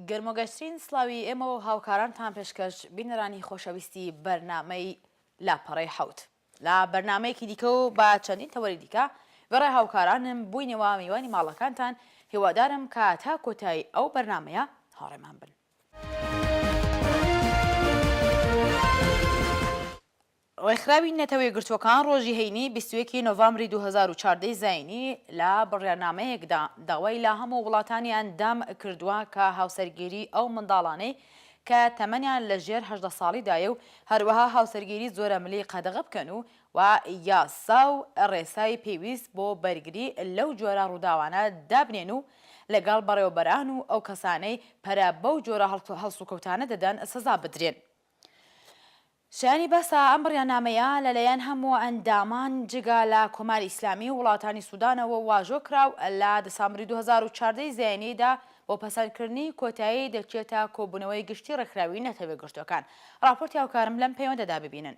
گەرمۆگەشترین سلاوی ئێمە و هاوکارانتان پێشکەش بینەرانی خۆشەویستی بەرنمەی لاپەڕی حوت لا بەرنمەیەکی دیکە و با چەندین تەوەری دیکە بەڕێ هاوکارانم بووینەوە میوانی ماڵەکانتان هیوادارم کە تا کۆتایی ئەو بەرنمەیە هاڕێمان بن ڕێکخراوی نەتەوە یەکگرتووەکان ڕۆژی هەینی 21 نۆڤامبری 2014 زینی لە بڕیارنامەیەکدا داوای لە هەموو وڵاتانی ئەندام کردووە کە هاوسەرگیری ئەو منداڵانەی کە تەمەنیان لە ژێر هەژدە ساڵیدایە و هەروەها هاوسەرگیری زۆرەملی قەدەغە بکەن و و یاسا و ڕێسای پێویست بۆ بەرگری لەو جۆرە ڕووداوانە دابنێن و لەگەڵ بەڕێوەبەران و ئەو کەسانەی پەرە بەو جۆرە هەڵسوکەوتانە دەدەن سزا بدرێن. شایانی باسە ئەم بڕیانامەیە لەلایەن هەموو ئەندامان جگە لە کۆماری ئیسلامی و وڵاتانی سودانەوە واژۆ کرا و لە دسامبری دوو هەزار و چواردە ی زایینیدا بۆ پەسەندکردنی کۆتایی دەچێتە کۆبوونەوەی گشتی ڕێکخراوی نەتەوە یەکگرتووەکان. ڕاپۆرتی هاوکارم لەم پەیوەندەدا ببینن.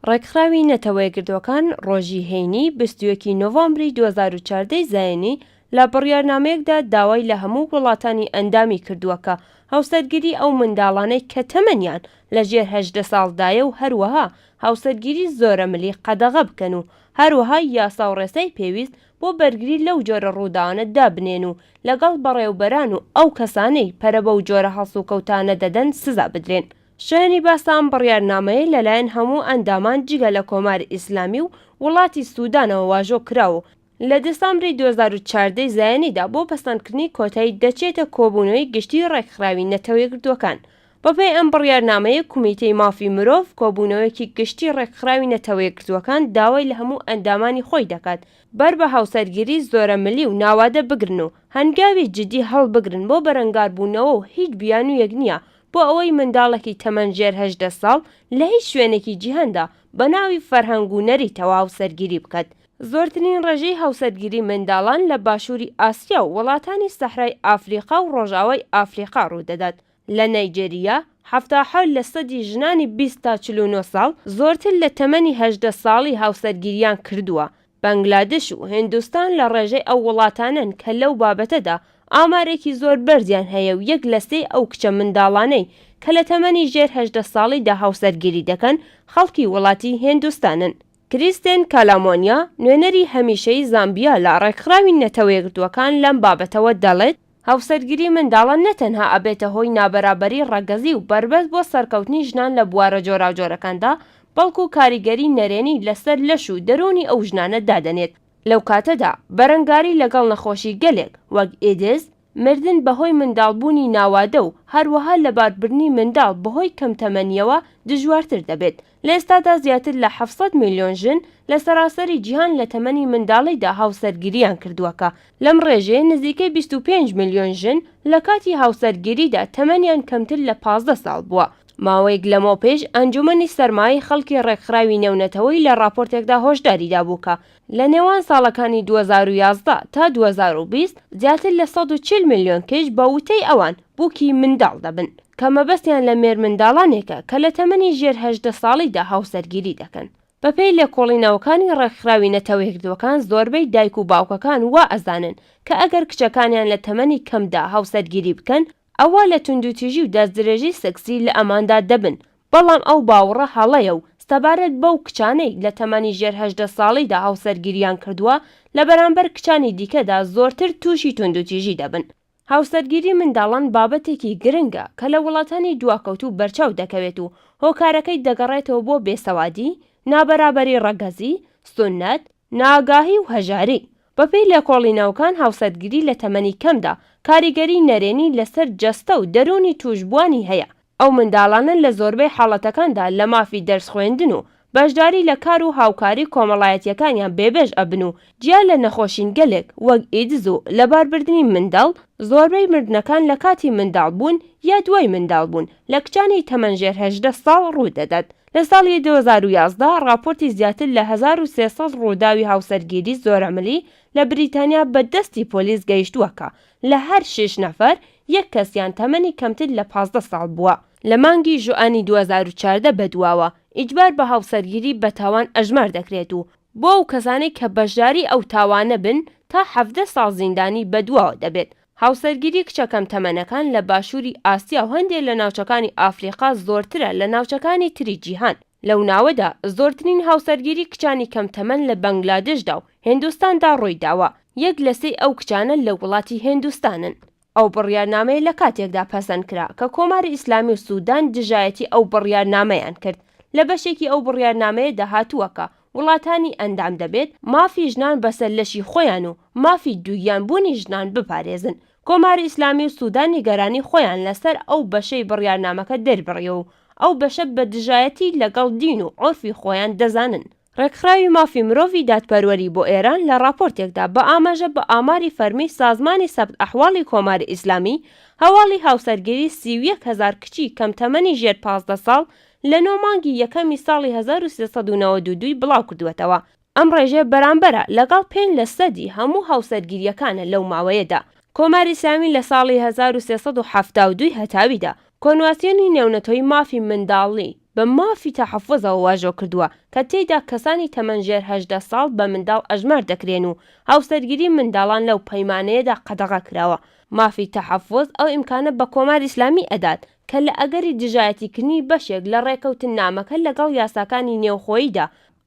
ڕێکخراوی نەتەوە یەکگرتووەکان ڕۆژی هەینی بیست و یەک ی نۆڤامبری دوو هەزار و چواردە ی زایینی لە بڕیارنامەیەکدا داوای لە هەموو وڵاتانی ئەندامی کردووە کە هاوسەرگیری ئەو منداڵانەی کە تەمەنیان لە ژێر هەژدە ساڵدایە و هەروەها هاوسەرگیری زۆرەملی قەدەغە بکەن و هەروەها یاسا و ڕێسای پێویست بۆ بەرگری لەو جۆرە ڕووداوانە دابنێن و لەگەڵ بەڕێوبەران و ئەو کەسانەی پەرە بەو جۆرە هەڵسوکەوتانە دەدەن سزا بدرێن. شایانی باسە ئەم بڕیارنامەیە لەلایەن هەموو ئەندامان جگە لە کۆماری ئیسلامی و وڵاتی سودانەوە واژۆ کرا و لە دسامبری دوو هەزار و چواردە ی زایەنیدا بۆ پەسەندکردنی کۆتایی دەچێتە کۆبوونەوەی گشتیی ڕێکخراوی نەتەوەیەکگرتووەکان. بەپێی ئەم بڕیارنامەیە کومیتەی مافی مرۆڤ کۆبوونەوەیەکی گشتی ڕێکخراوی نەتەوەیەکگرتووەکان داوای لە هەموو ئەندامانی خۆی دەکات بەر بە هاوسەرگیری زۆرەملی و ناوادە بگرن و هەنگاوی جدی هەڵبگرن بۆ بەرەنگاربوونەوە و هیچ بیانوویەک نییە بۆ ئەوەی منداڵێکی تەمەن ژێر هەژدە ساڵ لە هیچ شوێنێکی جیهاندا بە ناوی فەرهەنگ و نەری تەوا هاوسەرگیری بکات، زۆرترین ڕێژەی هاوسەرگیری منداڵان لە باشووری ئاسیا و وڵاتانی سەحرای ئافریقا و ڕۆژاوای ئافریقا ڕوودەدات، لە نەیجێریا حەفتا و حەوت لە سەدی ژنانی بیست تا چل و نۆ ساڵ زۆرتر لە تەمەنی هەژدە ساڵی هاوسەرگیریان کردووە، بەنگلادش و هیندستان لە ڕێژەی ئەو وڵاتانەن کە لەو بابەتەدا ئامارێکی زۆر بەرزیان هەیە و یەک لە سێی ئەو کچە منداڵانەی کە لە تەمەنی ژێر هەژدە ساڵیدا هاوسەرگیری دەکەن خەڵکی وڵاتی هیندستانن. کریستێن کالامۆنیا، نوێنەری هەمیشەی زامبیا لە ڕێکخراوی نەتەوەیەکگرتووەکان لەم بابەتەوە دەڵێت، هاوسەرگیری منداڵان نە تەنها ئەبێتە هۆی نابەرابەری ڕەگەزی و بەربەست بۆ سەرکەوتنی ژنان لە بوارە جۆراوجۆرەکاندا، بەڵکو کاریگەری نەرێنی لەسەر لەش و دەروونی ئەو ژنانە دادەنێت، لەو کاتەدا بەرەنگاری لەگەڵ نەخۆشی گەلێک وەک ئیدز، مردن بەهۆی منداڵبوونی ناوادە و هەروەها لەباربردنی منداڵ بەهۆی کەمتەمەنییەوە دژوارتر دەبێت، لە ئێستادا زیاتر لە حەفت سەد ملیۆن ژن لە سەراسەری جیهان لە تەمەنی منداڵیدا هاوسەرگیرییان کردووە کە لەم ڕێژەیە نزیکەی بیست و پێنج ملیۆن ژن لە کاتی هاوسەرگیریدا تەمەنیان کەمتر لە پازدە ساڵ بووە. ماوەیەک لەمەوپێش ئەنجومەنی سەرمایەی خەڵکی ڕێکخراوی نێونەتەوەیی لە ڕاپۆرتێکدا هۆشداری دابوو کە لە نێوان ساڵەکانی دوو هەزار و یازدە تا دوو هەزار و بیست زیاتر لە سەد و چل ملیۆن کچ بە وتەی ئەوان بووکی منداڵ دەبن، کە مەبەستیان لە مێرمنداڵانێکە کە لە تەمەنی ژێر هەژدە ساڵیدا هاوسەرگیری دەکەن. بەپێی لێکۆڵینەوەکانی ڕێکخراوی نەتەوەیەکگرتووەکان زۆربەی دایک و باوکەکان وا ئەزانن کە ئەگەر کچەکانیان لە تەمەنی کەمدا هاوسەرگیری بکەن ئەوا لە توندوتیژی و دەستدرێژی سێکسی لە ئەماندا دەبن، بەڵام ئەو باوەڕە هەڵەیە و سەبارەت بەو کچانەی لە تەمەنی ژێر هەژدە ساڵیدا هاوسەرگیرییان کردووە، لە بەرامبەر کچانی دیکەدا زۆرتر تووشی توندوتیژی دەبن. هاوسەرگیری منداڵان بابەتێکی گرنگە کە لە وڵاتانی دواکەوتوو بەرچاو دەکەوێت و هۆکارەکەی دەگەڕێتەوە بۆ بێسەوادی، نابەرابەری ڕەگەزی، سوننەت، نائاگاهی و هەژاری، بەپێی لێکۆڵینەوەکان هاوسەرگیری لە تەمەنی کەمدا کاریگەری نەرێنی لەسەر جەستە و دەروونی تووشبووانی هەیە، ئەو منداڵانە لە زۆربەی حاڵەتەکاندا لە مافی دەرس خوێندن و بەشداری لە کار و هاوکاری کۆمەڵایەتییەکانیان بێبێش ئەبن و جیا لە نەخۆشینگەلێک وەک ئیدز و لەباربردنی منداڵ زۆربەی مردنەکان لە کاتی منداڵبوون یا دوای منداڵبوون لە کچانی تەمەن ژێر هەژدە ساڵ ڕوودەدات. لە ساڵی دوو هەزار و یازدە ڕاپۆرتی زیاتر لە هەزار و سێ سەد ڕووداوی هاوسەرگیری زۆرەملی لە بریتانیا بە دەستی پۆلیس گەیشتووە کە لە هەر شیش نەفەر یەک کەسیان تەمەنی کەمتر لە پازدە ساڵ بووە. لە مانگی ژوئانی دوو هەزار و چواردە بەدواوە ئیجبار بە هاوسەرگیری بە تاوان ئەژمار دەکرێت و بۆ ئەو کەسانەی کە بەشداری ئەو تاوانە بن تا حەڤدە ساڵ زیندانی بەدواوە دەبێت هاوسەرگیری کچە کەم تەمەنەکان لە باشووری ئاسیا و هەندێ لە ناوچەکانی ئافریقا زۆرترە لە ناوچەکانی تری جیهان، لەو ناوەدا زۆرترین هاوسەرگیری کچانی کەم تەمەن لە بەنگلادێشدا و هێندوستاندا ڕووی داوە، یەک لە سێی ئەو کچانە لە وڵاتی هێندوستانن. ئەو بڕیارنامەیە لە کاتێکدا پەسەند کرا کە کۆماری ئیسلامی و سوودان دژایەتی ئەو بڕیارنامەیان کرد، لە بەشێکی ئەو بڕیارنامەیەدا هاتووە کە وڵاتانی ئەندام دەبێت مافی ژنان بەسەر لەشی خۆیان و مافی دووگیان بوونی ژنان بپارێزن. کۆماری ئیسلامی و سودان نیگەرانی خۆیان لەسەر ئەو بەشەی بڕیارنامەکە دەربڕیوە و ئەو بەشە بە دژایەتی لەگەڵ دین و عورفی خۆیان دەزانن. ڕێکخراوی مافی مرۆڤی دادپەروەری بۆ ئێران لە ڕاپۆرتێکدا بە ئاماژە بە ئاماری فەرمی سازمانی سەبت ئەحواڵی کۆماری ئیسلامی، هەواڵی هاوسەرگیری سی و یەک هەزار کچی کەم تەمەنی ژێر پازدە ساڵ لە نۆ مانگی یەکەمی ساڵی هەزار و سێ سەد و نەوەد و دوو ی بڵاوکردووەتەوە، ئەم ڕێژەیە بەرامبەرە لەگەڵ پێنج لە سەدی هەموو هاوسەرگیرییەکانە لەو ماوەیەدا. کۆماری ئیسلامی لە ساڵی هەزار و سێ سەد و حەفتا و دوو ی هەتاویدا، کۆنواسیۆنی نێونەتۆی مافی منداڵی بە مافی تەحەفوزەوە واژۆ کردووە، کە تێیدا کەسانی تەمەن ژێر هەژدە ساڵ بە منداڵ ئەژمار دەکرێن و هاوسەرگیری منداڵان لەو پەیمانەیەدا قەدەغە کراوە، مافی تەحەفوز ئەو ئیمکانە بە کۆماری ئیسلامی ئەدات، کە لە ئەگەری دژایەتیکردنی بەشێک لە ڕێکەوتننامەکە لەگەڵ یاساکانی نێوخۆییدا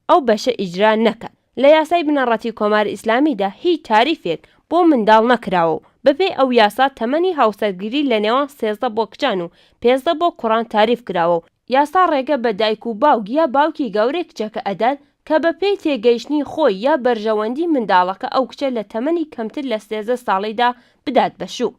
ئەو بەشە ئیجرا نەکات. لە یاسای بنەڕەتی کۆماری ئیسلامیدا هیچ تاریفێک بۆ منداڵ نەکراوە و بەپێی ئەو یاسا تەمەنی هاوسەرگیری لە نێوان سێزدە بۆ کچان و پێزدە بۆ کوڕان تاریف کراوە و یاسا ڕێگە بە دایک و باوک یا باوکی گەورەی کچەکە ئەدات کە بەپێی تێگەیشتنی خۆی یا بەرژەوەندی منداڵەکە ئەو کچە لە تەمەنی کەمتر لە سێزدە ساڵیدا بدات بە شوو.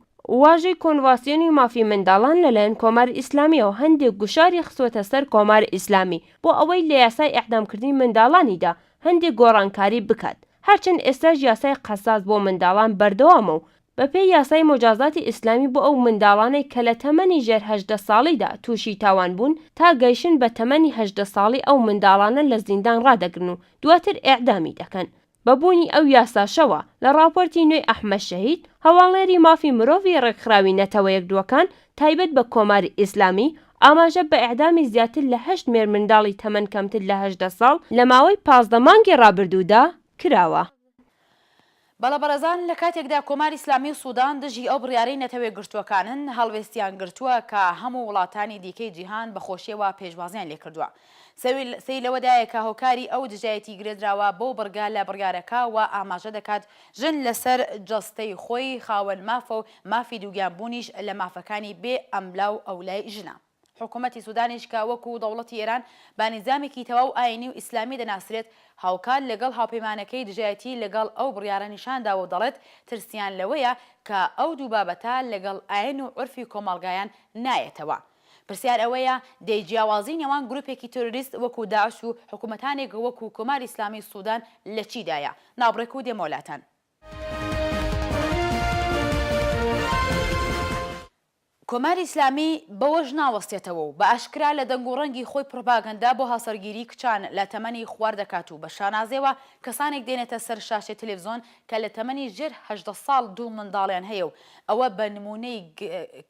واژەی کۆنڤاسیۆنی مافی منداڵان لەلایەن کۆماری ئیسلامیەوە هەندێک گوشاری خستوەتە سەر کۆماری ئیسلامی بۆ ئەوەی لە یاسای ئیعدامکردنی منداڵانیدا هەندێک گۆڕانکاری بکات هەرچەند ئێستاش یاسای قەساس بۆ منداڵان بەردەوامە و بەپێی یاسای موجازاتی ئیسلامی بۆ ئەو منداڵانەی کە لە تەمەنی ژێر هەژدە ساڵیدا تووشی تاوان بوون تا گەیشن بە تەمەنی هەژدە ساڵی ئەو منداڵانە لە زیندان ڕادەگرن و دواتر ئیعدامی دەکەن بە بوونی ئەو یاساشەوە، لە ڕاپۆرتی نوێی ئەحمەد شەهید، هەواڵنێری مافی مرۆڤی ڕێکخراوی نەتەوە یەکدووەکان تایبەت بە کۆماری ئیسلامی، ئاماژە بە ئێعدامی زیاتر لە هەشت مێرمنداڵی تەمەن کەمتر لە هەژدە ساڵ لە ماوەی پازدە مانگی ڕابردوودا کراوە. بەڵابەڕێزان لە کاتێکدا کۆماری ئیسلامی و سودان دژی ئەو بڕیارەی نەتەوەیەکگرتووەکانن، هەڵوێستیان گرتووە کە هەموو وڵاتانی دیکەی جیهان بە خۆشیەوە پێشوازیان لێکردووە. سەیر لەوەدایە کە هۆکاری ئەو دژایەتی گرێدراوە بەو بڕگە لە بڕیارەکە وا ئاماژە دەکات، ژن لەسەر جەستەی خۆی خاوەن مافە و مافی دووگیان بوونیش لە مافەکانی بێ ئەملا و ئەولای ژنە. حکوومەتی سوودانیش کە وەکوو دەوڵەتی ئێران بە نیزامێکی تەواو ئایینی و ئیسلامی دەناسرێت، هاوکات لەگەڵ هاوپەیمانەکەی دژایەتی لەگەڵ ئەو بڕیارە نیشان داوە و دەڵێت، ترسیان لەوەیە کە ئەو دوو بابەتە لەگەڵ ئایین و عورفی کۆمەڵگایان نایەتەوە. پرسیار ئەوەیە دەی جیاوازی نێوان گروپێکی تێرۆریست وەکو داعش و حکومەتانێک وەکو کۆماری ئیسلامی سودان لە چی دایە؟ ناوبڕێک و دێمەوە لاتان. کۆماری ئیسلامی بەوەش ناوەستێتەوە و بە ئاشکرا لە دەنگ و ڕەنگی خۆی پڕوپاگەندە بۆ هاوسەرگیری کچان لە تەمەنی خوار دەکات و بە شانازیەوە کەسانێک دێنێتە سەر شاشەی تەلەفزۆن کە لە تەمەنی ژێر هەژدە ساڵ دوو منداڵیان هەیە و ئەوە بە نموونەی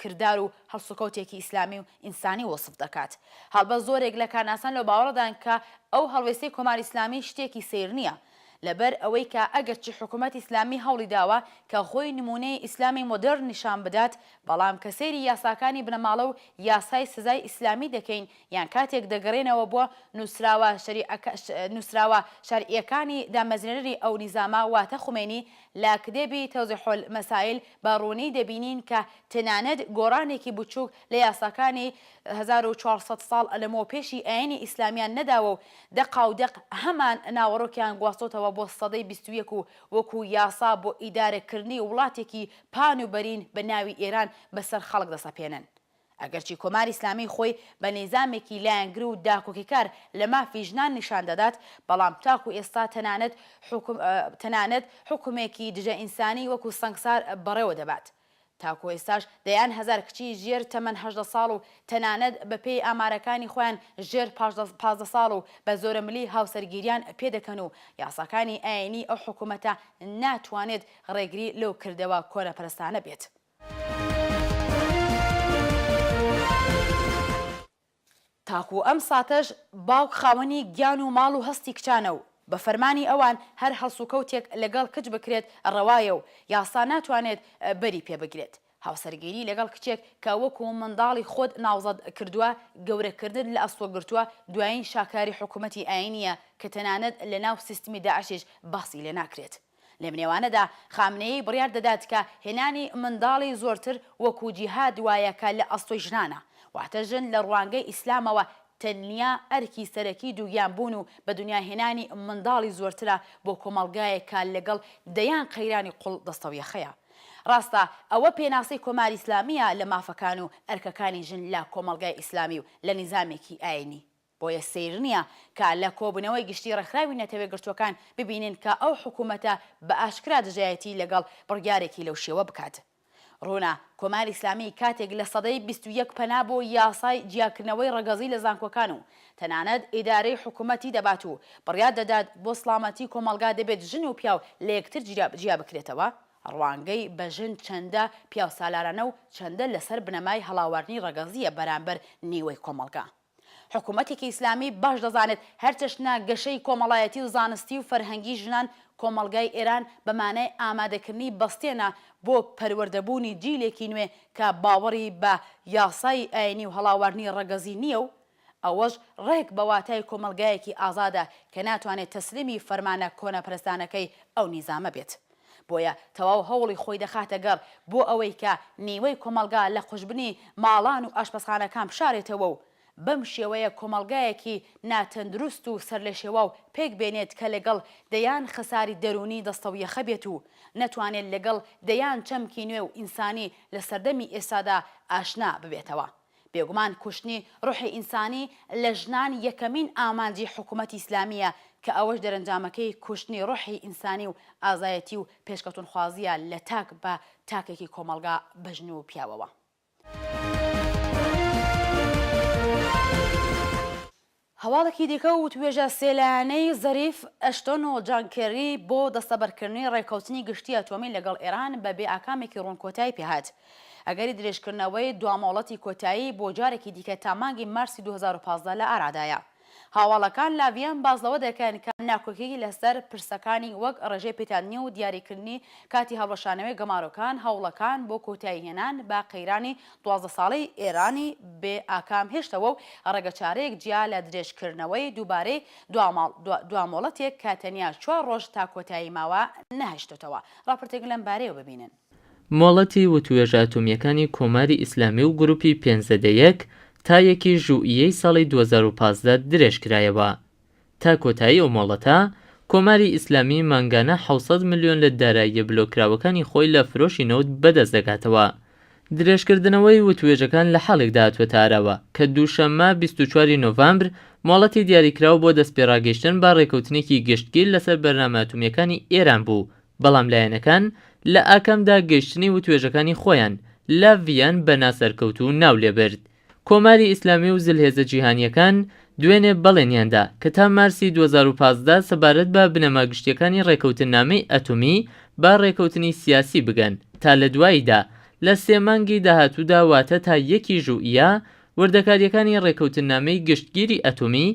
کردار و هەڵسوکەوتێکی ئیسلامی و ئینسانی وەسف دەکات. هەڵبەت زۆرێک لە کارناسان لەو باوەڕەدان کە ئەو هەڵوێستەی کۆماری ئیسلامی شتێکی سەیر نییە، لەبەر ئەوەی کە ئەگەرچی حکوومەتی ئیسلامی هەوڵی داوە کە خۆی نموونەی ئیسلامی مۆدێرن نیشان بدات، بەڵام کە سەیری یاساکانی بنەماڵە و یاسای سزای ئیسلامی دەکەین یان کاتێک دەگەرێنەوە بۆ نوسراوە شەریعەکە نوسراوە شەرعیەکانی دامەزرێنەری ئەو نیزامە واتە خومەینی لە کدێبی توضیح المسائل بە ڕوونی دەبینین کە تەنانەت گۆڕانێکی بچوک لە یاساکانی هەزار و چوار سەد ساڵ لەمەو پێشی ئاینی ئیسلامیان نەداوە و دەقا و دەق هەمان ناوەڕۆکیان گواستۆتەوە بۆ سەدەی بیست و یەک و وەکو یاسا بۆ ئیدارە کردنی وڵاتێکی پان و بەرین بە ناوی ئێران بەسەر خەڵک دەسەپێنن ئەگەرچی کۆماری ئیسلامی خۆی بە نیزامێکی لایەنگر و داکۆکیکار لە مافی ژنان نیشان دەدات، بەڵام تاکو ئێستا تەنانەت حوکم تەنانەت حوکمێکی دژە ئینسانی وەکو سەنگسار بەڕێوە دەبات. تاکو ئێستاش دەیان هەزار کچی ژێر تەمەن هەژدە ساڵ و تەنانەت بە پێی ئامارەکانی خۆیان ژێر پازدە ساڵ و بە زۆرەملی هاوسەرگیریان پێ دەکەن و یاساکانی ئایینی ئەو حکوومەتە ناتوانێت ڕێگری لەو کردەوە کۆنەپەرستانە بێت. تاکو ئەم ساتەش باوک خاوەنی گیان و ماڵ و هەستی کچانە و بە فەرمانی ئەوان هەر هەڵسوکەوتێک لەگەڵ کچ بکرێت ڕەوایە و یاسا ناتوانێت بەری پێ بگرێت. هاوسەرگیری لەگەڵ کچێک کە وەکو منداڵی خۆت ناوزەد کردووە، گەورەکردنت لە ئەستۆ گرتووە، دوایین شاکاری حکوومەتی ئایینییە کە تەنانەت لەناو سیستمی داعشیش باسی لێ ناکرێت. لەمنێوانەدا خامنەیی بڕیار دەدات کە هێنانی منداڵی زۆرتر وەکو جیهاد وایە کە لە ئەسڵی ژنانە، واتە ژن لە ڕوانگەی ئیسلامەوە تەنیا ئەرکی سەرەکی دووگیان بوون و بە دونیا هێنانی منداڵی زۆرترە بۆ کۆمەڵگایەک کە لەگەڵ دەیان قەیرانی قوڵ دەستەویەخەیە. ڕاستە ئەوە پێناسەی کۆماری ئیسلامییە لە مافەکان و ئەرکەکانی ژن لە کۆمەڵگای ئیسلامی و لە نیزامێکی ئایینی بۆیە سەیر نییە کە لە کۆبوونەوەی گشتیی ڕێکخراوی نەتەوەیەکگرتووەکان ببینین کە ئەو حکوومەتە بە ئاشکرا دژایەتیی لەگەڵ بڕیارێکی لەو شێوە بکات. ڕوونە کۆماری ئیسلامی کاتێک لە سەدەی بیست و یەک پەنا بۆ یاسای جیاکردنەوەی ڕەگەزی لە زانکۆکان و تەنانەت ئیدارەی حکوومەتی دەبات و بڕیار دەدات بۆ سڵامەتی کۆمەڵگا دەبێت ژن و پیاو لە یەکتر جیا بکرێتەوە، ڕوانگەی بە ژن چەندە پیاوسالارانە و چەندە لەسەر بنەمای هەڵاواردنی ڕەگەزییە بەرانبەر نیوەی کۆمەڵگا. حکوومەتێکی ئیسلامی باش دەزانێت هەرچەشنە گەشەی کۆمەڵایەتی و زانستی و فەرهەنگی ژنان کۆمەڵگای ئێران بە مانای ئامادەکردنی بەستێنە بۆ پەروەردەبوونی جیلێکی نوێ کە باوەڕی بە یاسای ئایینی و هەڵاواردنی ڕەگەزی نییە و ئەوەش ڕێک بە واتای کۆمەڵگایەکی ئازادە کە ناتوانێت تەسلیمی فەرمانە کۆنەپەرستانەکەی ئەو نیزامە بێت. بۆیە تەواو هەوڵی خۆی دەخاتە گەڕ بۆ ئەوەی کە نیوەی کۆمەڵگا لە قوژبنی ماڵان و ئاشپەزخانەکان بشارێتەوە و بەم شێوەیە کۆمەڵگایەکی ناتەندروست و سەرلێشێواو پێک بێنێت کە لەگەڵ دەیان خەساری دەروونی دەستەویەخە بێت و نەتوانێت لەگەڵ دەیان چەمکی نوێ و ئینسانی لە سەردەمی ئێستادا ئاشنا ببێتەوە. بێگومان کوشتنی روحی ئینسانی لە ژنان یەکەمین ئامانجی حکومەتی ئیسلامییە کە ئەوەش دەرەنجامەکەی کوشتنی روحی ئینسانی و ئازایەتی و پێشکەوتنخوازییە لە تاک بە تاکێکی کۆمەڵگا بە ژن و پیاوەوە. هەواڵێکی دیکە و وتووێژە سێ لایەنەی زەریف، ئەشتۆن و جان کێری بۆ دەستەبەرکردنی ڕێککەوتنی گشتی ئەتۆمی لەگەڵ ئێران بە بێ ئاکامێکی ڕوون کۆتایی پێ هات. ئەگەری درێژکردنەوەی دوا مۆڵەتی کۆتایی بۆ جارێکی دیکە تا مانگی مارسی دوو هەزار و پازدە لە ئارادایە. هاواڵەکان لاڤیان باس لەوە دەکەن کە ناکۆکیی لەسەر پرسەکانی وەک ڕێژەی پیتاندنی و دیاریکردنی کاتی هەڵوەشانەوەی گەمارۆکان هەوڵەکان بۆ کۆتایی هێنان بە قەیرانی دوازدە ساڵەی ئێرانی بێ ئاکام هێشتەوە و ڕێگەچارەیەک جیا لە درێژکردنەوەی دووبارەی دواماڵ دوا مۆڵەتێک کە تەنیا چوار ڕۆژ تا کۆتایی ماوە، نەهێشتۆتەوە. ڕاپۆرتێک لەم بارەیەوە ببینن. مۆڵەتی وتووێژە ئەتۆمییەکانی کۆماری ئیسلامی و گرووپی پێنج زەدە یەک تا یەکی ژوئیەی ساڵی دوو هەزار و پازدە درێژکرایەوە. تا کۆتایی ئەو مۆڵەتە، کۆماری ئیسلامی مانگانە حەوت سەد ملیۆن لە داراییە بلۆککراوەکانی خۆی لە فرۆشی نەوت بەدەست دەگاتەوە. درێژکردنەوەی وتووێژەکان لە حاڵێکدا هاتووەتە ئاراوە، کە دووشەممە بیست و چوار ی نۆڤەمبر مۆڵەتی دیاریکراو بۆ دەستپێڕاگەیشتن بە ڕێککەوتنێکی گشتگیر لەسەر بەرنامە ئەتومییەکانی ئێران بوو، بەڵام لایەنەکان لە ئاکامدا گەیشتنی وتوێژەکانی خۆیان لە ڤییەن بە ناسەرکەوتوو ناولێبرد. کۆماری ئیسلامی و زلهێزە جیهانییەکان دوێنێ بەڵێنیان دا کە تا مارسی دوو هەزار و پازدە سەبارەت بە بنەما گشتییەکانی ڕێککەوتننامەی ئەتۆمی بە ڕێککەوتنی سیاسی بگەن تا لە دواییدا لە سێ مانگی داهاتوودا واتە تا یەکی ژوئیە وردەکارییەکانی ڕێککەوتننامەی گشتگیری ئەتۆمی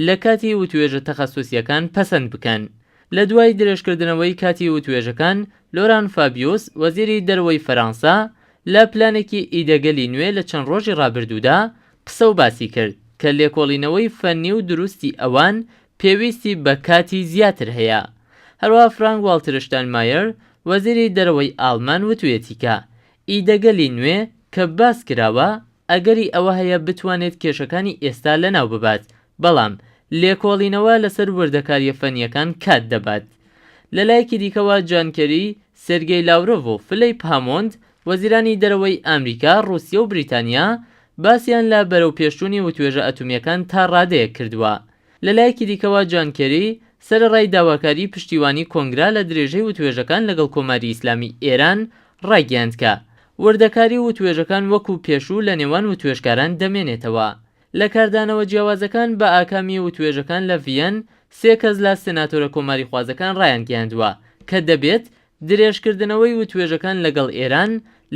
لە کاتی وتوێژە تەخەسوسییەکان پەسەند بکەن. لە دوای درێژکردنەوەی کاتی وتوێژەکان، لۆران فابیوس، وەزیری دەروەی فەرانسە، لە پلانێکی ئیدەگەلی نوێ لە چەند ڕۆژی ڕابردوودا قسە و باسی کرد کە لێکۆڵینەوەی فەنی و دروستی ئەوان پێویستی بە کاتی زیاتر هەیە. هەروەها فرانک واڵتر شتاینمایەر وەزیری دەرەوەی ئاڵمان وتویەتی کە ئیدەگەلی نوێ کە باس کراوە ئەگەری ئەوە هەیە بتوانێت کێشەکانی ئێستا لەناو ببات، بەڵام لێکۆڵینەوە لەسەر وردەکارییە فەنییەکان کات دەبات. لە لایەکی دیکەوە، جان کێری، سێرگێی لاورۆڤ و فلیپ هامۆند، وەزیرانی دەرەوەی ئامریکا، ڕووسیە و بریتانیا، باسیان لە بەرەوپێشچوونی وتوێژە ئەتومییەکان تا ڕادەیەک کردووە. لە لایەکی دیکەوە جان کێری، سەرەڕای داواکاریی پشتیوانیی کۆنگرە لە درێژەی وتوێژەکان لەگەڵ کۆماری ئیسلامیی ئێران، ڕایگەیاند کە وردەکاریی وتوێژەکان وەکوو پێشوو لە نێوان وتوێژکاران دەمێنێتەوە. لە کاردانەوە جیاوازەکان بە ئاکامی وتوێژەکان لە ڤییەن، سێ کەس لە سناتۆرە کۆماریخوازەکان ڕایانگەیاندووە کە دەبێت درێژکردنەوەی وتوێژەکان لەگەڵ ئێران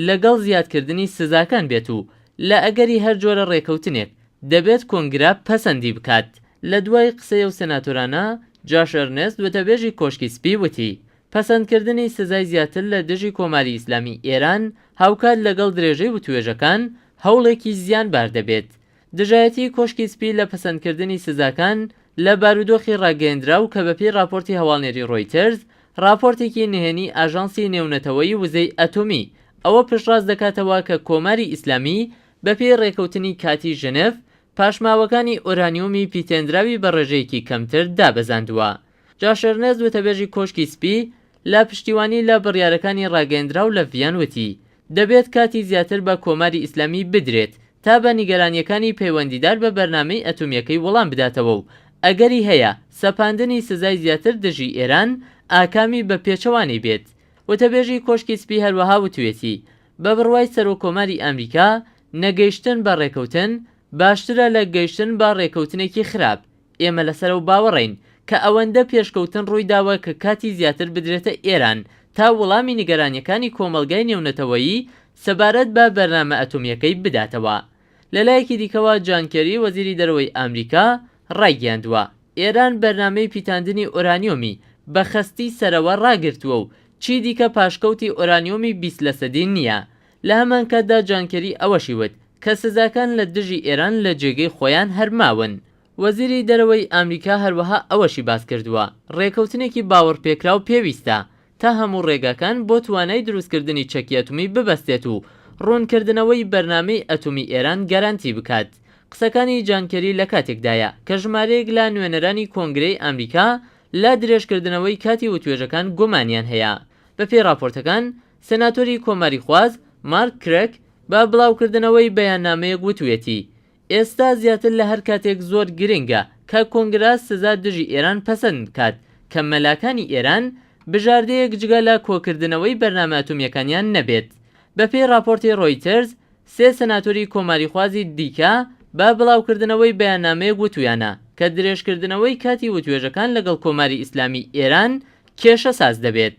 لەگەڵ زیادکردنی سزاکان بێت و لە ئەگەری هەر جۆرە ڕێکەوتنێک دەبێت کۆنگرە پەسەندی بکات. لە دوای قسەی ئەو سناتۆرانە، جاش ئەرنێست وتەبێژی کۆشکی سپی وتی، پەسەندکردنی سزای زیاتر لە دژی کۆماری ئیسلامی ئێران هاوکات لەگەڵ درێژەی وتوێژەکان هەوڵێکی زیانبار دەبێت دژایەتیی کۆشکی سپی لە پەسەندکردنی سزاکان لە بارودۆخی ڕاگەیەندراو کە بەپێی ڕاپۆرتی هەواڵنێری ڕۆیتەرز، ڕاپۆرتێکی نهێنیی ئاژانسی نێونەتەوەیی وزەی ئەتۆمی، ئەوە پشتڕاست دەکاتەوە کە کۆماری ئیسلامی بەپێی ڕێکەوتنی کاتیی ژنێڤ، پاشماوەکانی ئۆرانیۆمی پیتێندراوی بە ڕێژەیەکی کەمتر دابەزاندووە. جاش ئێرنێست وتەبێژی کۆشکی سپی لە پشتیوانی لە بڕیارەکانی ڕاگەیەندراو لە ڤییەن وتی، دەبێت کاتی زیاتر بە کۆماری ئیسلامی بدرێت تا بە نیگەرانییەکانی پەیوەندیدار بە بەرنامەی ئەتۆمییەکەی وەڵام بداتەوە و ئەگەری هەیە سەپاندنی سزای زیاتر دژی ئێران ئاکامی بە پێچەوانەی بێت. وتەبێژی کۆشکی سپی هەروەها وتویەتی بە بڕوای سەرۆککۆماری ئامریکا نەگەیشتن بە ڕێکەوتن باشترە لە گەیشتن بە ڕێکەوتنێکی خراپ، ئێمە لەسەر ئەو باوەڕەین کە ئەوەندە پێشکەوتن ڕوویداوە کە کاتی زیاتر بدرێتە ئێران تا وڵامی نیگەرانییەکانی کۆمەڵگای نێونەتەوەیی سەبارەت بە بەرنامە ئەتۆمییەکەی بداتەوە. لەلایەکی دیکەوە، جان کێری، وەزیری دەرەوەی ئامریکا ڕایگەیاندووە، ئێران بەرنامەی پیتاندنی ئۆرانیۆمی بە خەستی سەرەوە ڕاگرتووە و چیدیکە پاشکەوتی ئۆرانیۆمی بیست لەسەدی نییە لە هەمانکاتدا جان کێری ئەوەشی وت کە سزاکان لە دژی ئێران لە جێگەی خۆیان هەر ماون. وەزیری دەرەوەی ئامریکا هەروەها ئەوەشی باسکردووە ڕێکەوتنێکی باوەڕپێکراو پێویستە تا هەموو ڕێگاکان بۆ توانای دروستکردنی چەکی ئەتومی ببەستێت و ڕوونکردنەوەی بەرنامەی ئەتومی ئێران گەرانتی بکات. قسەکانی جان کێری لە کاتێکدایە کە ژمارەیەک لە نوێنەرانی کۆنگرەی ئامریکا لە درێژکردنەوەی کاتی وتوێژەکان گومانیان هەیە. بەپێی ڕاپۆرتەکان سناتۆری کۆماریخواز مارک کرک بە بڵاوکردنەوەی بەیاننامەیەک وتویەتی ئێستا زیاتر لە هەر کاتێک زۆر گرنگە کە کۆنگرا سزا دژی ئێران پەسەند بکات کە مەلاکانی ئێران بژاردەیەک جگە لە کۆکردنەوەی بەرنامە ئەتۆمیەکانیان نەبێت. بەپێی راپۆرتی رۆیتەرز، سێ سناتۆری کۆماریخوازی دیکە بە بڵاوکردنەوەی بەیاننامەیەک وتویانە کە درێژکردنەوەی کاتی وتوێژەکان لەگەڵ کۆماری ئیسلامی ئێران کێشەساز دەبێت.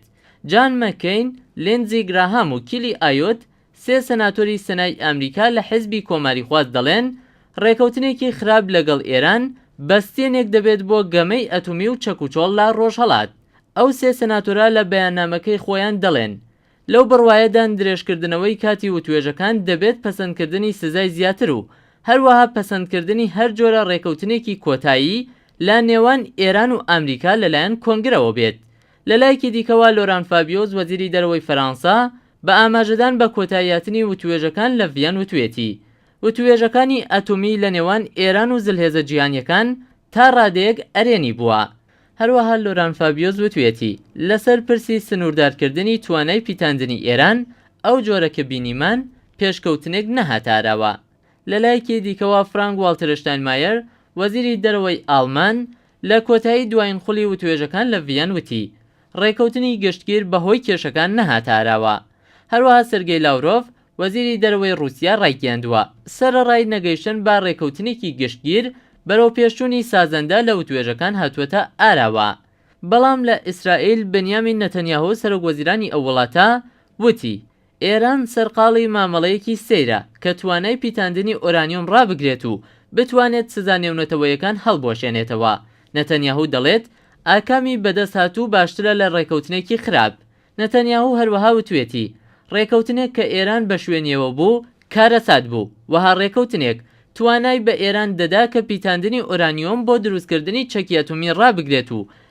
جان مەککەین، لیندزی گراهام و کیلی ئایۆت، سێ سەناتۆری سەنای ئامریکا لە حزبی کۆماریخواز دەڵێن، ڕێکەوتنێکی خراپ لەگەڵ ئێران بەستێنێک دەبێت بۆ گەمەی ئەتومی و چەکوچۆڵ لە ڕۆژهەڵات. ئەو سێ سەناتۆرە لە بەیاننامەکەی خۆیان دەڵێن، لەو بڕوایەدان درێژکردنەوەی کاتی وتوێژەکان دەبێت پەسەندکردنی سزای زیاتر و هەروەها پەسەندکردنی هەر جۆرە ڕێکەوتنێکی کۆتایی لە نێوان ئێران و ئامریکا لەلایەن کۆنگرەوە بێت لە لایەکی دیکەوە لۆران فابیۆز وەزیری دەرەوەی فەرانسە بە ئاماژەدان بە کۆتاییهاتنی وتووێژەکان لە ڤییەن وتویەتی وتووێژەکانی ئەتۆمی لە نێوان ئێران و زلهێزە جیهانییەکان تا ڕادەیەک ئەرێنی بووە. هەروەها لۆران فابیۆز وتویەتی لەسەر پرسی سنووردارکردنی توانای پیتاندنی ئێران ئەو جۆرە کە بینیمان پێشکەوتنێک نەهاتە ئاراوە. لە لایەکی دیکەوە فرانک واڵترشتاینمایەر وەزیری دەرەوەی ئاڵمان لە کۆتایی دوایین خولی وتوێژەکان لە ڤییەن وتی، ڕێکەوتنی گشتگیر بەهۆی کێشەکان نەهاتە ئاراوە. هەروەها سێرگێی لاورۆڤ، وەزیری دەرەوەی ڕووسیا ڕایگەیاندووە، سەرەڕای نەگەیشتن بە ڕێکەوتنێکی گشتگیر، بەرەوپێشچوونی سازەندە لە وتوێژەکان هاتووەتە ئاراوە. بەڵام لە ئیسرائیل، بنیامین نەتەنیاهۆ سەرۆکوەزیرانی ئەو وڵاتە وتی، ئێران سەرقاڵی مامەڵەیەکی سەیرە کە توانای پیتاندنی ئۆرانیۆم ڕابگرێت و بتوانێت سزا نێونەتەوەیەکان هەڵبوەشێنێتەوە. نەتەنیاهو دەڵێت، ئاکامی بەدەستهاتوو باشترە لە ڕێکەوتنێکی خراپ. نەتەنیاهو هەروەها وتوێتی، ڕێکەوتنێک کە ئێران بە شوێنیەوە بوو، کارەسات بوو. وەها ڕێکەوتنێک توانای بە ئێران دەدا کە پیتاندنی ئۆرانیۆم بۆ دروستکردنی چەکی ئەتومی ڕابگرێت و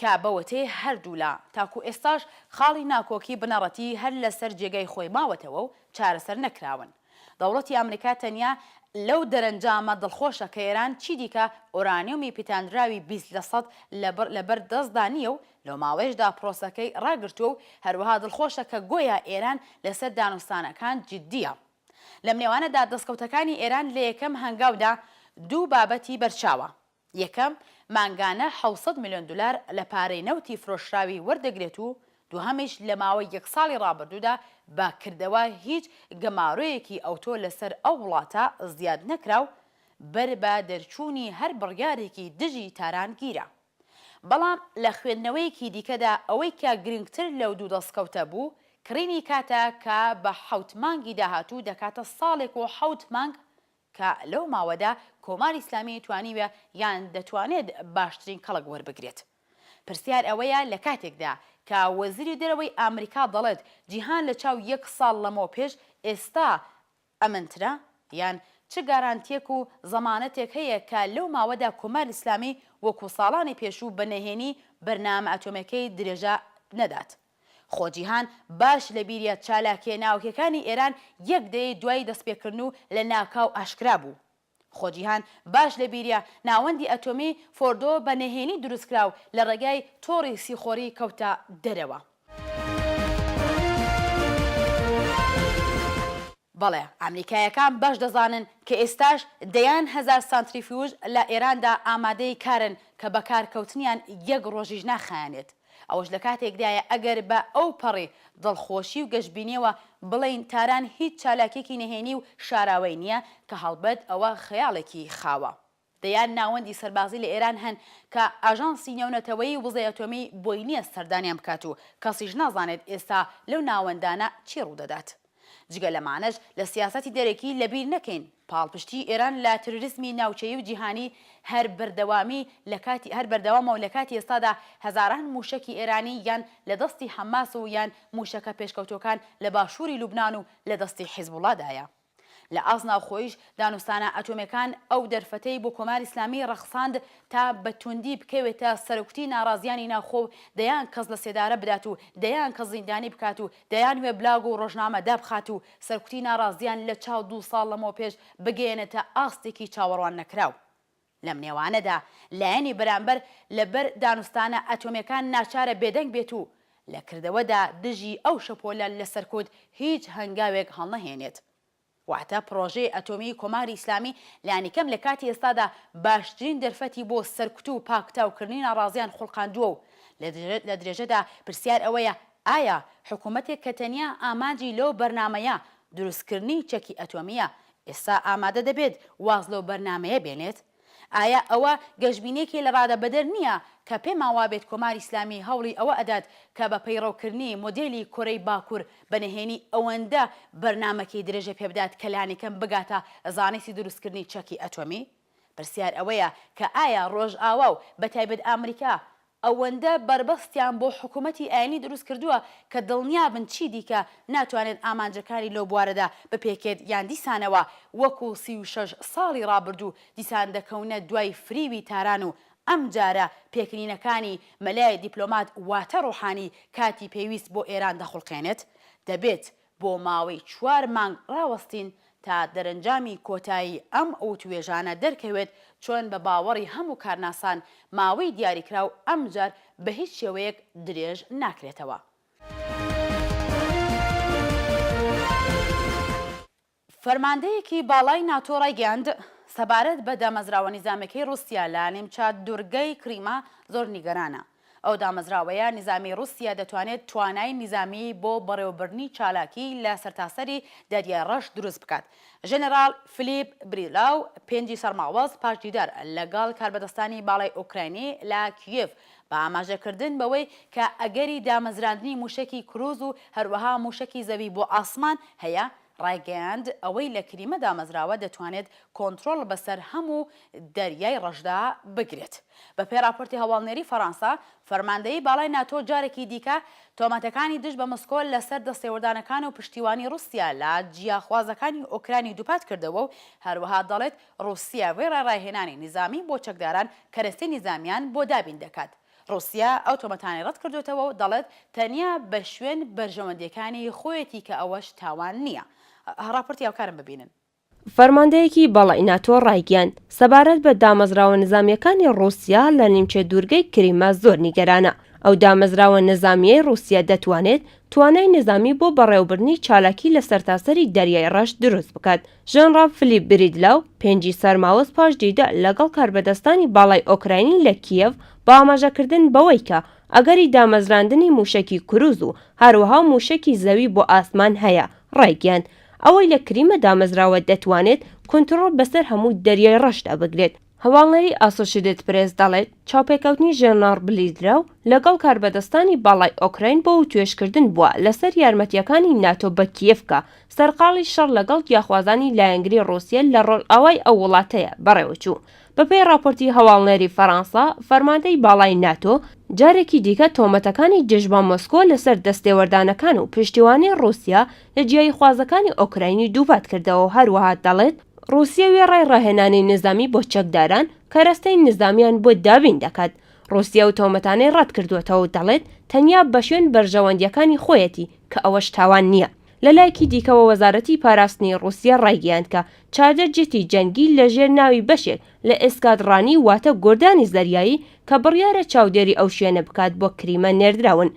کە بەوەتەی هەردوولا تاکو ئێستاش خاڵی ناکۆکی بنەڕەتی هەر لەسەر جێگای خۆی ماوەتەوە و چارەسەر نەکراون. دەوڵەتی ئامریکا تەنیا لەو دەرەنجامە دڵخۆشە کە ئێران چیدیکە ئۆرانیۆمی پیتاندراوی بیست لە سەد لە بەر دەستدا نییە و لەو ماوەیەشدا پرۆسەکەی ڕاگرتووە و هەروەها دڵخۆشە کە گۆیا ئێران لەسەر دانوستانەکان جدییە. لەم نێوانەدا دەستکەوتەکانی ئێران لە یەکەم هەنگاودا دوو بابەتی بەرچاوە. یەکەم، مانگانە حەوت سەد ملیۆن دولار لە پارەی نەوتی فرۆشراوی وەردەگرێت و دوهەمیش لە ماوەی یەک ساڵی رابردوودا بە کردەوە هیچ گەمارۆیەکی ئەوتۆ لەسەر ئەو وڵاتە زیاد نەکرا و بەر بە دەرچوونی هەر بڕیارێکی دژی تاران گیرا. بەڵام لە خوێندنەوەیەکی دیکەدا ئەوەی کە گرنگتر لەو دوو دەستکەوتە بوو کڕینی کاتە کە بە حەوت مانگی داهاتوو دەکاتە ساڵێک و حەوت مانگ کە لەو ماوەدا کۆماری ئیسلامی توانیوە یان دەتوانێت باشترین کەڵک وەربگرێت؟ پرسیار ئەوەیە لە کاتێکدا کە وەزیری دەرەوەی ئامریکا دەڵێت جیهان لە چاو یەک ساڵ لەمەو پێش ئێستا ئەمنترە؟ یان چ گارانتیەک و زەمانەتێک هەیە کە لەو ماوەدا کۆماری ئیسلامی وەکو ساڵانی پێشوو بە نەهێنی بەرنامە ئەتۆمێکەی درێژە نەدات؟ خۆ جیهان باش لە بیریە چالاکیە ناوەکیەکانی ئێران یەک دەیەی دوای دەست پێکردن و لە ناکاو ئاشکرا بوو. خۆ جیهان باش لە بیریە ناوەندی ئەتۆمی فۆردۆ بە نهێنی دروست کرا و لە ڕێگای تۆڕی سیخۆری کەوتە دەرەوە. بەڵێ ئامریکایەکان باش دەزانن کە ئێستاش دەیان هەزار سانتریفیوژ لە ئێراندا ئامادەی کارن کە بەکار کەوتنیان یەک ڕۆژیش ناخایەنێت. ئەوەش لە کاتێکدایە ئەگەر بە ئەو پەڕی دڵخۆشی و گەشبینیەوە بڵێین تاران هیچ چالاکیەکی نەهێنی و شاراوەی نیە کە هەڵبەت ئەوە خەیاڵێکی خاوە. دەیان ناوەندی سەربازی لە ئێران هەن کە ئاژانسی نێونەتەوەیی وزەی ئەتۆمی بۆی نیە سەردانیان بکات و کەسیش نازانێت ئێستا لەو ناوەندانە چی ڕوودەدات. جگە لەمانەش لە سیاسەتی دەرەکی لەبیر نەکەین پاڵپشتی ئێران لە ترۆریسمی ناوچەیی و جیهانی هەر بەردەوامی لە کاتی هەر بەردەوامە و لە کاتی ئێستادا هەزاران مووشەکی ئێرانی یان لە دەستی حەماس و یان مووشەکە پێشکەوتووەکان لە باشووری لوبنان و لە دەستی حیزبوڵا دایە. لە ئاست ناوخۆیش دانوستانە ئەتۆمیەکان ئەو دەرفەتەی بۆ کۆماری ئیسلامی ڕەخساند تا بە تووندی بکەوێتە سەرکوتی ناڕازییانی ناوخۆ و دەیان کەس لە سێدارە بدات و دەیان کەس زیندانی بکات و دەیان وێبلاگ و ڕۆژنامە دابخات و سەرکوتی ناڕازییان لە چاو دوو ساڵ لەمەو پێش بگەیەنێتە ئاستێکی چاوەڕوان نەکراو. لەم نێوانەدا لایەنی بەرامبەر لە بەر دانوستانە ئەتۆمیەکان ناچارە بێدەنگ بێت و لە کردەوەدا دژی ئەو شەپۆلە لە سەرکوت هیچ هەنگاوێک هەڵنەهێنێت. واتە پڕۆژەی ئەتۆمیی کۆماری ئیسلامی لانیکەم لە کاتی ئێستادا باشترین دەرفەتی بۆ سەرکوت و پاکتاوکردنی ناڕازییان خوڵقاندووە و لە درێژەدا پرسیار ئەوەیە ئایا حکوومەتێک کە تەنیا ئامانجی لەو بەرنامەیە دروستکردنی چەکی ئەتۆمییە ئێستا ئامادە دەبێت واز لەو بەرنامەیە بێنێت؟ ئایا ئەوە گەشبینێکی لەڕادەبەدەر نییە کە پێمان وابێت کۆماری ئیسلامی هەوڵی ئەوە ئەدات کە بە پەیڕەوکردنی مۆدێلی کۆرەی باکوور بە نهێنی ئەوەندە بەرنامەکەی درێژە پێبدات کە لانیکەم بگاتە زانستی دروستکردنی چەکی ئەتۆمی؟ پرسیار ئەوەیە کە ئایا ڕۆژئاوا و بەتایبەت ئامریکا ئەوەندە بەربەستیان بۆ حکوومەتی ئایینی دروست کردووە کە دڵنیا بن چی دیکە ناتوانێت ئامانجەکانی لەو بوارەدا بپێکێت یان دیسانەوە وەکو سی و شەش ساڵی ڕابردوو دیسان دەکەونە دوای فریوی تاران و ئەم جارە پێکەنینەکانی مەلای دیپلۆمات واتە ڕوحانی کاتی پێویست بۆ ئێران دەخوڵقێنێت دەبێت بۆ ماوەی چوار مانگ ڕاوەستین تا دەرەنجامی کۆتایی ئەم وتووێژانە دەرکەوێت، چۆن بە باوەڕی هەموو کارناسان ماوەی دیاریکراو ئەمجار بە هیچ شێوەیەک درێژ ناکرێتەوە. فەرماندەیەکی باڵای ناتۆ ڕایگەیاند، سەبارەت بە دامەزراوە نیزامیەکەی ڕوسیا لە نیمچە دورگەی کریمە زۆر نیگەرانە. ئەو دامەزراوەیە نیزامی ڕوسیا دەتوانێت توانای نیزامی بۆ بەڕێوەبردنی چالاکی لە سەرتاسەری دەریای ڕەش دروست بکات. ژەنەراڵ فلیپ بریلاو پێنجی سەرماوەز پاش دیدار لە گەڵ کاربەدەستانی باڵای ئۆکراینی لە کیێڤ بە ئاماژە کردن بەوەی کە ئەگەری دامەزراندنی موشەکی کروز و هەروەها موشەکی زەوی بۆ ئاسمان هەیە ڕایگەیاند، ئەوەی لە کریمە دامەزراوە دەتوانێت کۆنترۆڵ بەسەر هەموو دەریای ڕەشدا بگرێت. بەپێی ڕاپۆرتی هەواڵنێری فەرانسە، فەرماندەیی باڵای ناتۆ جارێکی دیکە تۆمەتەکانی دژ بە مۆسکۆ لەسەر دەستێوەردانەکان و پشتیوانی ڕوسیا لە جیاخوازەکانی ئۆکراینی دووپات کردەوە و هەروەها دەڵێت ڕوسیا وێڕای ڕاهێنانی نیزامی بۆ چەکداران کەرەستەی نیزامیان بۆ دابین دەکات. ڕوسیا ئەو تۆمەتانەی ڕەت کردۆتەوە و دەڵێت تەنیا بە شوێن بەرژەوەندییەکانی خۆیەتی کە ئەوەش تاوان نییە. ڕاپۆرتی هاوکارم ببینن. فەرماندەیەکی باڵای ناتۆ ڕایگەیاند، سەبارەت بە دامەزراوە نزامییەکانی ڕووسیا لە نیمچە دوورگەی کریمە زۆر نیگەرانە. ئەو دامەزراوە نزامییەی ڕووسیە دەتوانێت توانای نزامی بۆ بەڕێوەبردنی چالاکی لە سەرتاسەری دەریای ڕەش دروست بکات، ژەنڕاڵ فلیپ بریدلاو، پێنجی سەرماوەز پاش دیدە لەگەڵ کاربەدەستانی باڵای ئۆکراینی لە کیێڤ، بە ئاماژەکردن بەوەی کە ئەگەری دامەزراندنی مووشەکی کرووز و هەروەها مووشەکی زەوی بۆ ئاسمان هەیە، ڕایگەیاند، ئەوەی لە کریمە دامەزراوە دەتوانێت کونتڕۆڵ بەسەر هەموو دەریای ڕەشدا بگرێت. هەواڵنێری ئاسۆشیدێت پرێس دەڵێت چاوپێکەوتنی ژێرناڕ بلیدراو لەگەڵ کاربەدەستانی باڵای ئۆکراین بۆ وتوێژکردن بووە لەسەر یارمەتییەکانی ناتۆ بە کیێڤ کە سەرقاڵی شەڕ لەگەڵ گیاخوازانی لایەنگری ڕووسیە لە ڕۆژئاوای ئەو وڵاتەیە بەڕێوەچوو. بەپێی ڕاپۆرتی هەواڵنێری فەرانسە، فەرماندەی باڵای ناتۆ جارێکی دیکە تۆمەتەکانی دژ بە مۆسکۆ لەسەر دەستێوەردانەکان و پشتیوانی ڕووسیە لە جیایی خوازەکانی ئۆکراینی دووپات کردەوەو هەروەها دەڵێت، ڕوسیە وێڕای ڕاهێنانی نیزامی بۆ چەکداران، کەرەستەی نیزامیان بۆ دابین دەکات. ڕوسیە ئەو تۆمەتانەی ڕەت کردووەتەوەو دەڵێت، تەنیا بەشوێن بەرژەوەندییەکانی خۆیەتی، کە ئەوەش تاوان نییە. لەلایەکی دیکەوە وەزارەتی پاراستنی ڕوسیە ڕایگەیاند کە چاردە جێتی جەنگی لە ژێر ناوی بەشێک لە ئێسکادڕانی واتە گۆردانی زەریایی کە بڕیارە چاودێری ئەو شوێنە بکات بۆ کریمە نێردراون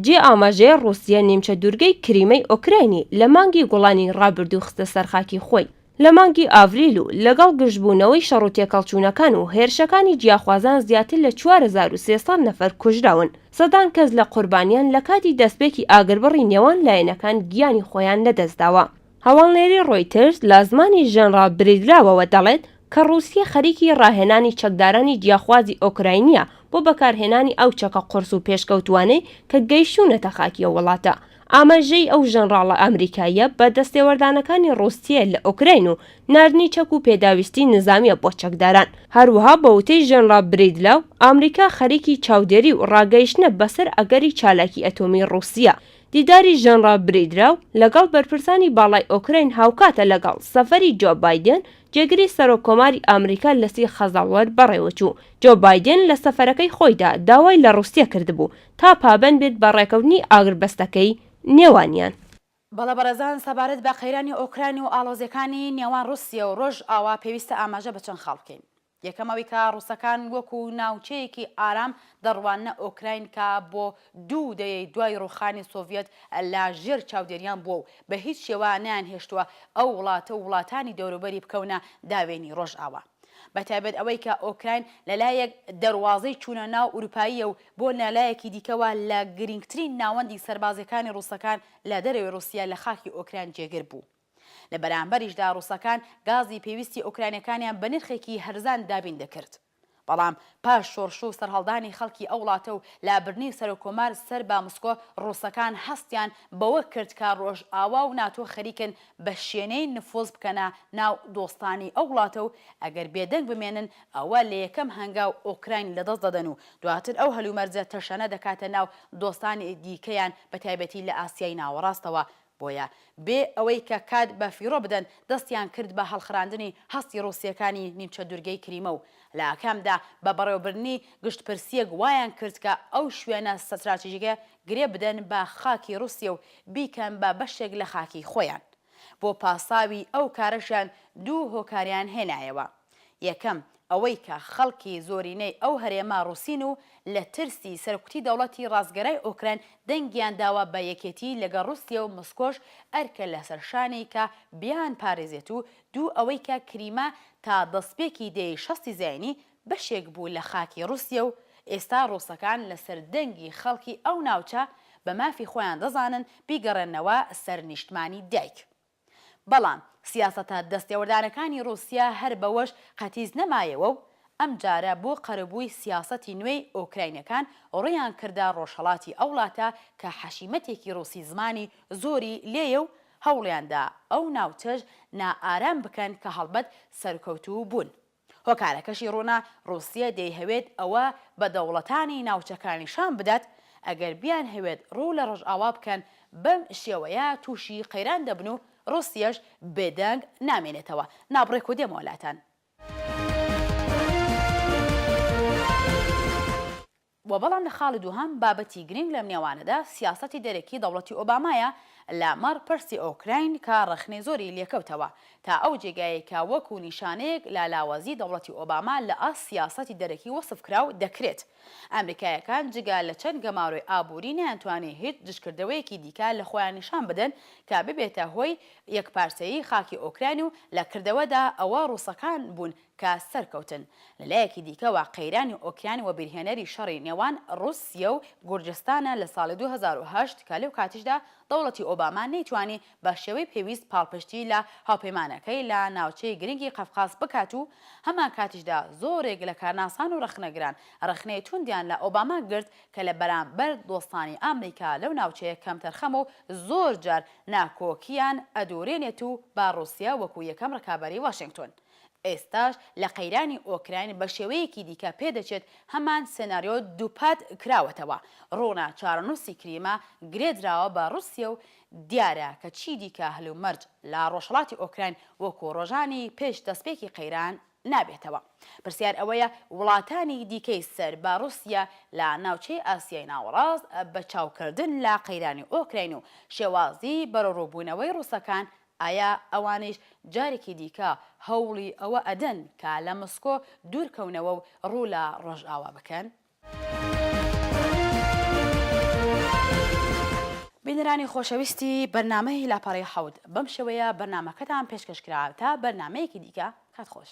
جێی ئاماژەیە ڕووسیە نیمچە دوورگەی کریمەی ئۆکراینی لە مانگی گوڵانی ڕابردوو خستە سەر خاکی خۆی، لە مانگی ئاڤریل و لەگەڵ گرژبوونەوەی شەڕ و تێکهەڵچوونەکان و هێرشەکانی جیاخوازان زیاتر لە چوار هەزار و سێ سەد نەفەر کوژراون، سەدان کەس لە قوربانیان لە کاتی دەستپێکی ئاگربڕی نێوان لایەنەکان گیانی خۆیان لەدەستداوە. هەواڵنێری ڕۆیتەرز لە زمانی ژەنڕاڵ بریدلاوەوە دەڵێت کە ڕووسیە خەریکی ڕاهێنانی چەکدارانی جیاخوازی ئۆکراینییە بۆ بەکارهێنانی ئەو چەکە قورس و پێشکەوتووانەی کە گەیشتوونەتە خاکی ئەو وڵاتە. ئاماژەی ئەو ژەنڕاڵە ئەمریکاییە بە دەستێوەردانەکانی ڕووسیە لە ئۆکراین و ناردنی چەک و پێداویستی نزامییە بۆ چەکداران. هەروەها بە وتەی ژەنڕاڵ بریدلاو، ئامریکا خەریکی چاودێری و ڕاگەیشتنە بەسەر ئەگەری چالاکی ئەتۆمی ڕووسیە دیداری ژەنڕاڵ بریدراو لەگەڵ بەرپرسانی باڵای ئۆکراین هاوکاتە لەگەڵ سەفەری جۆ بایدێن، جێگری سەرۆک کۆماری ئامریکا لە سی خەزەڵوەر بەڕێوەچوو. جۆ بایدێن لە سەفەرەکەی خۆیدا داوای لە ڕووسیە کردبوو تا پابەند بێت بە ڕێکەوتنی ئاگربەستەکەی نێوانیان. بەڵێ بەڕێزان سەبارەت بە قەیرانی ئۆکراین و ئاڵۆزیەکانی نێوان ڕووسیە و ڕۆژ ئاوا پێویستە ئاماژە بە چەند خاڵ بکەین. یەکەم ئەوەی کە ڕووسەکان وەکو ناوچەیەکی ئارام دەڕواننە ئۆکراین کە بۆ دوو دەیەی دوای ڕووخانی سۆڤیەت لە ژێر چاودێریان بووە و بە هیچ شێوە نەیانهێشتووە ئەو وڵاتە و وڵاتانی دەوروبەری بکەونە داوێنی ڕۆژئاوا بە تایبەت ئەوەی کە ئۆکراین لە لایەک دەروازەی چوونە ناو ئوروپاییە و بۆ نە لایەکی دیکەوە لە گرینگترین ناوەندی سەربازیەکانی ڕووسەکان لە دەرەوەی ڕووسیە لە خاکی ئۆکراین جێگر بوو. لە بەرامبەریشدا ڕووسەکان گازی پێویستی ئۆکرانیەکانیان بە نرخێکی هەرزان دابین دەکرد. بەڵام پاش شۆڕش و سەرهەڵدانی خەڵکی ئەو وڵاتە و لابردنی سەرۆککۆمار سەر بە مسکۆ، ڕووسەکان هەستیان بەوە کرد کە ڕۆژئاوا و ناتۆ خەریکن بە شێنەی نفوز بکەنە ناو دۆستانی ئەو وڵاتە و ئەگەر بێدەنگ بمێنن ئەوە لە یەکەم هەنگاو ئۆکراین لەدەست دەدەن و دواتر ئەو هەلومەرجە تەشەنە دەکاتە ناو دۆستانی دیکەیان بەتایبەتی لە ئاسیای ناوەڕاستەوە بۆیە بێ ئەوەی کە کات بە فیڕۆ بدەن دەستیان کرد بە هەڵخراندنی هەستی ڕووسییەکانی نیمچە دوورگەی کریمە و لە ئاکامدا بە بەڕێوەبردنی گشتپرسییەک وایان کرد کە ئەو شوێنە ستراتژیکە گرێ بدەن بە خاکی ڕووسیە و بیکەن بە بەشێک لە خاکی خۆیان. بۆ پاساوی ئەو کارەشیان دوو هۆکاریان هێنایەوە. یەکەم، ئەوەی کە خەڵکی زۆرینەی ئەو هەرێمە ڕووسین و لە ترسی سەرکوتی دەوڵەتی ڕاستگەرای ئۆکراین دەنگیان داوە بە یەکێتیی لەگەڵ ڕووسیە و مسکۆش ئەرکە لەسەر شانی کە بیانپارێزێت و دوو، ئەوەی کە کریمە تا دەستپێکی دەیەی شەستی زاینی بەشێک بوو لە خاکی ڕووسیە و ئێستا ڕووسەکان لەسەر دەنگی خەڵکی ئەو ناوچە بە مافی خۆیان دەزانن بیگەڕێننەوە سەر نیشتمانی دایک بەڵام سیاسەتە دەستێوەردانەکانی ڕووسیا هەر بەوەش قەتیس نەمایەوە و ئەمجارە بۆ قەرەبووی سیاسەتی نوێی ئۆکراینەکان ڕوویان کردە ڕۆژهەڵاتی ئەو ڵاتە کە حەشیمەتێکی ڕووسی زمانی زۆری لێیە و هەوڵیان دا ئەو ناوچەش نائارام بکەن کە هەڵبەت سەرکەوتوو بوون. هۆکارەکەشی ڕوونە، ڕووسیە دەیهەوێت ئەوە بە دەوڵەتانی ناوچەکە نیشان بدات، ئەگەر بیانهەوێت ڕوو لە ڕۆژئاوا بکەن، بەم شێوەیە تووشی قەیران دەبن و ڕووسیەش بێدەنگ نامێنێتەوە. نابڕێک و دێمەوە لاتان. و بەڵام لە خاڵی دووهەم بابەتی گرینگ لەم نێوانەدا سیاسەتی دەرەکی دەوڵەتی ئۆبامایە لە مەڕ پرسی ئۆکراین کە ڕەخنەی زۆری لێکەوتەوە تا ئەو جێگایەی کە وەکو نیشانەیەک لە لاوازی دەوڵەتی ئۆباما لە ئاست سیاسەتی دەرەکی وەسف کراو دەکرێت ئەمریکایەکان جگە لە چەند گەمارۆی ئابووری نەیانتوانی هیچ دژکردەوەیەکی دیکە لە خۆیان نیشان بدەن کە ببێتە هۆی یەکپارچەیی خاکی ئۆکراین و لە کردەوەدا ئەوە ڕووسەکان بوون کە سەرکەوتن. لە لایەکی دیکەوە قەیرانی ئۆکراین وەبیرهێنەری شەڕی نێوان ڕووسیە و گورجستانە لە ساڵی دوو هەزار و هەشت کە لەو کاتیشدا دەوڵەتی ئۆباما نەیتوانی بە شێوەی پێویست پاڵپشتی لە هاوپەیمانەکەی لە ناوچەی گرنگی قەفقاس بکات و هەمانکاتیشدا زۆرێک لە کارناسان و ڕەخنەگران ڕەخنەی توندیان لە ئۆباما گرت کە لە بەرامبەر دۆستانی ئامریکا لەو ناوچەیە کەمتەرخەمە و زۆرجار ناکۆکیان ئەدورێنێت و با ڕووسیە وەکو یەکەم ڕکابەری واشێنگتۆن ئێستاش لە قەیرانی ئۆکراین بە شێوەیەکی دیکە پێدەچێت هەمان سێناریۆ دووپات کراوەتەوە، ڕوونە چارەنووسی کریمە گرێدراوە بە ڕووسیە و دیارە کە چیدیکە هەلومەرج لە ڕۆژهەڵاتی ئۆکراین وەکو ڕۆژانی پێش دەستپێکی قەیران نابێتەوە. پرسیار ئەوەیە وڵاتانی دیکەی سەر بە ڕووسیە لە ناوچەی ئاسیای ناوەڕاست بە چاوکردن لە قەیرانی ئۆکراین و شێوازی بەرەوڕووبوونەوەی ڕووسەکان ئایا ئەوانیش جارێکی دیکە هەوڵی ئەوە ئەدەن کە لە مسکۆ دوور کەونەوە و ڕوو لە ڕۆژئاوا بکەن؟ بینەرانی خۆشەویستی بەرنامەی لاپەڕەی حەوت، بەم شێوەیە بەرنامەکەتان پێشکەش کرا، تا بەرنامەیەکی دیکە، کات خۆش.